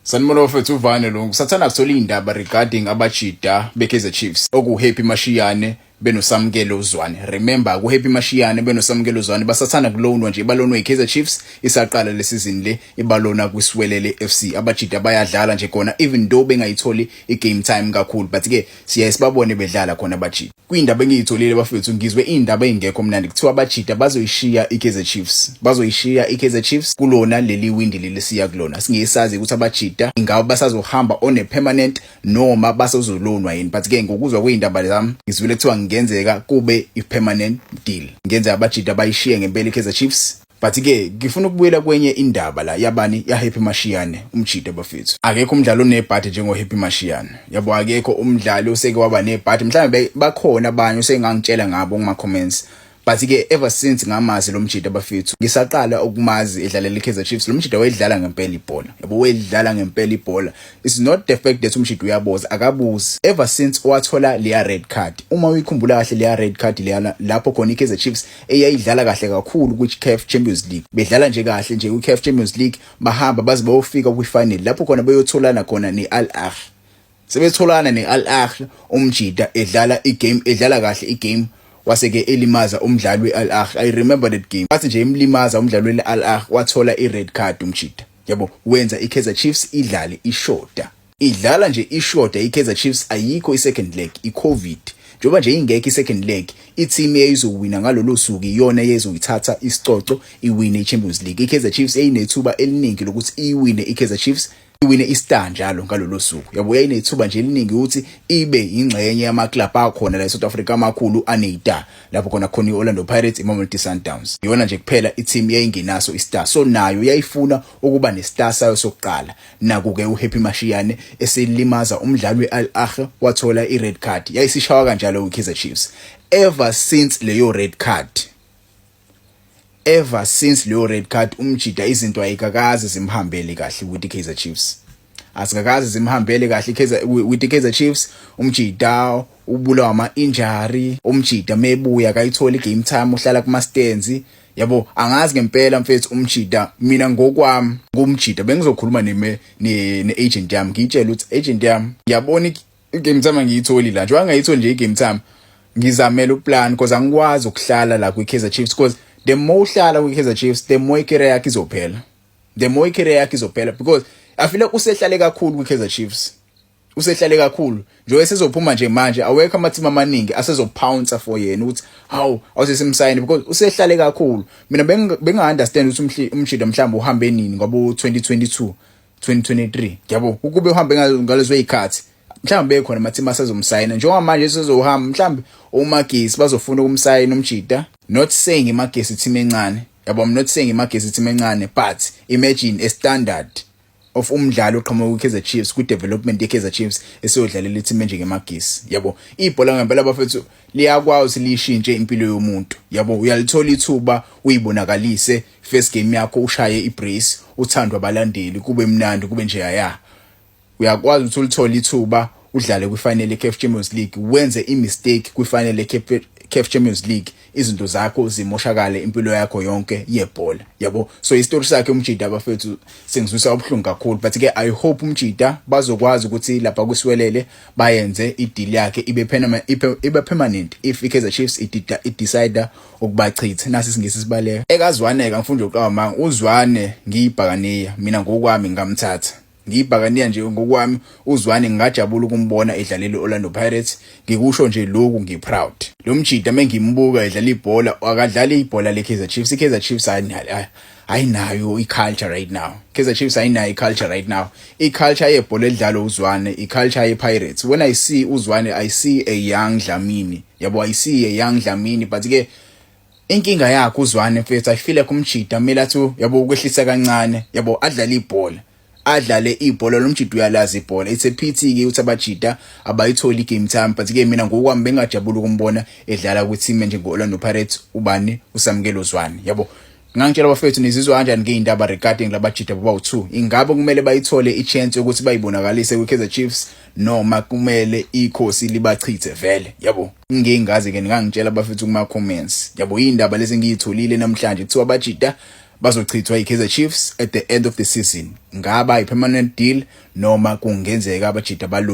Sanibona bafethu uvane lo ngisathanda kuthola iy'ndaba regarding abajida be-kaizer chiefs okuwuhappy mashiyane benosamukele uzwane remember kuhappy mashiyane benosamukele uzwane basathanda kulonwa nje balonwa i-kaizer chiefs isaqala le season le ibalona kwisiwelele f c abajida bayadlala nje khona even though bengayitholi i-game time kakhulu but-ke siyaye sibabone bedlala khona abajida Kuyindaba engiyitholile bafethu ngizwe iy'ndaba ey'ngekho mnandi kuthiwa abajida bazoyishiya i-kaizer chiefs bazoyishiya i-kaizer chiefs kulona leli windi leli siya kulona singesazi ukuthi abajida ingaba basazohamba on a permanent noma basazolonwa yini but ke ngokuzwa kwey'ndaba zami ngizwile kuthiwa ngenzeka kube i-permanent deal ngenzeka abajida bayishiye ngempela i-kaizer chiefs But ke ngifuna ukubuyela kwenye indaba la yabani ya Happy Mashiyane umjita bafethu. Akekho umdlali onebhadi njengo Happy Mashiyane. Yabo akekho umdlali oseke waba nebhadi. Mhlawumbe bakhona abanye usengangitshela ngabo kuma comments. But ke ever since ngamazi lo mjita bafethu ngisaqala ukumazi edlalela iKaizer Chiefs. Lo mjita wayedlala ngempela ibhola. Yabo wayedlala ngempela ibhola. It's not the fact that umjita uyaboza akabuzi. Ever since wathola leya red card. Uma uyikhumbula kahle leya red card leyana lapho khona iKaizer Chiefs eyayidlala kahle kakhulu kwi-CAF Champions League bedlala nje kahle nje kwi-CAF Champions League bahamba baze bayofika kwi-final lapho khona beyotholana khona ne-Al Ahly sebetholana ne-Al Ahly umjida edlala igame edlala kahle igame waseke elimaza umdlali we-Al Ahly i remember that game wathi nje imlimaza umdlali we-Al Ahly wathola i-red card umjida yabo wenza i-Kaizer Chiefs idlale ishoda idlala nje ishoda iKaizer Chiefs ayikho i-second leg i-covid njengoba nje ingekho i-second leg i-team eyizowina ngalolo suku iyona eyezoyithatha isicoco iwine i-champions league i-kaizer chiefs eyinethuba eliningi lokuthi iyiwine i-kaizer chiefs iwine i-star njalo ngalolo suku yabo yayinethuba nje eliningi ukuthi ibe yingxenye yamaklabhu akhona la e-south africa amakhulu aneyita lapho khona khona i-orlando pirates imamelodi sundowns iyona nje kuphela i-team yayingenaso i-star so nayo yayifuna ukuba ne-star sayo sokuqala Naku-ke uHappy Mashiane eselimaza umdlali we-Al Ahly wathola i-red card. Yayisishawa kanjalo kwiKaizer Chiefs. Ever since leyo red card ever since leyo red card umjida izinto ayikakaze zimhambele kahle ukuthi Kaizer Chiefs azikakaze zimhambele kahle Kaizer with Kaizer Chiefs umjida ubulawa ama injury umjida mebuya akayitholi game time uhlala kuma stands yabo angazi ngempela mfethu umjida mina ngokwami kumjida bengizokhuluma neme ne-agent yami ngiyitshela ukuthi agent yami ngiyabona i-game time angiyitholi la njengoba ngayitholi nje i-game time ngizamela uplan because angikwazi ukuhlala la kwi-kaizer chiefs because the more uhlala kwi-kaizer chiefs the more icareer yakhe izophela the more icareer yakhe izophela because afile usehlale kakhulu kwi-kaizer chiefs usehlale kakhulu njengoba esezophuma nje manje awekho amathimu amaningi asezopouncer for yena ukuthi hawu awusesimsayini because usehlale kakhulu mina benginga-understand ukuthi umshido mhlawumbe uhambe nini ngoba u-2022 2023 yabo ukube uhambe ngalezo y'khathi mhlawumbe bekhona amathimu asezomsayina njengoba manje esezohamba mhlawumbe omagesi bazofuna ukumsayina umjida not saying imagesi team encane yabo i'm not saying imagesi team encane but imagine a standard of umdlali oqhamuka kwiKaizer Chiefs kwidevelopment yeKaizer Chiefs esiyodlalela ithimba njengemagisi yabo ibhola ngempela bafethu liyakwazi lishintshe impilo yomuntu yabo uyalithola ithuba uyibonakalise first game yakho ushaye ibrace uthandwa abalandeli kube mnandi kube nje yaya uyakwazi ukuthi ulithole ithuba udlale kwifinal yeCAF Champions League wenze imistake kwifinal yeCAF Champions League izinto zakho zimoshakale impilo yakho yonke yebhola yabo so istory sakhe umjida abafethu sengizwisa ubuhlungu kakhulu but ke i hope umjida bazokwazi ukuthi lapha kusiwelele bayenze ideal yakhe ibe permanent ibe permanent if iKaizer Chiefs idecide ukubachitha nasi singisi sibaleka ekazwaneka mfundo uqawa manga uzwane ngiyibhakaniya mina ngokwami ngamthatha Ngiyibhakaniya nje ngokwami uZwane ngingajabula ukumbona edlalela i-Orlando Pirates, ngikusho nje lokhu ngiproud. Lo mjita mengimbuka edlala ibhola akadlali ibhola leKaizer Chiefs, iKaizer Chiefs ayinayo i-culture right now. Kaizer Chiefs ayinayo i-culture right now. I-culture yebhola elidlalwa uZwane, i-culture yePirates. When I see uZwane I see a young Dlamini. Yabo I see a young Dlamini but ke inkinga yakhe uzwane mfethu ayifile kumjida kumele athi yabo ukwehlisa kancane yabo adlale ibhola adlale ibhola lo mjida uyalazi ibhola it's a pity ke ukuthi abajida abayitholi game time but ke mina ngokwami bengajabula ukumbona edlala kwi team nje ngo-Orlando Pirates ubani usamkelo zwane yabo ngangitshela abafethu nizizwa kanjani ngeyindaba regarding labajida baba u2 ingabe kumele bayithole ichance yokuthi bayibonakalise kwiKaizer Chiefs noma kumele ikhosi libachithe vele yabo ngingazi ke ningangitshela bafethu kuma comments yabo indaba lezi ngiyitholile namhlanje kuthiwa bajita bazochithwa iKaizer Chiefs at the end of the season ngaba ipermanent deal noma kungenzeka abajita balu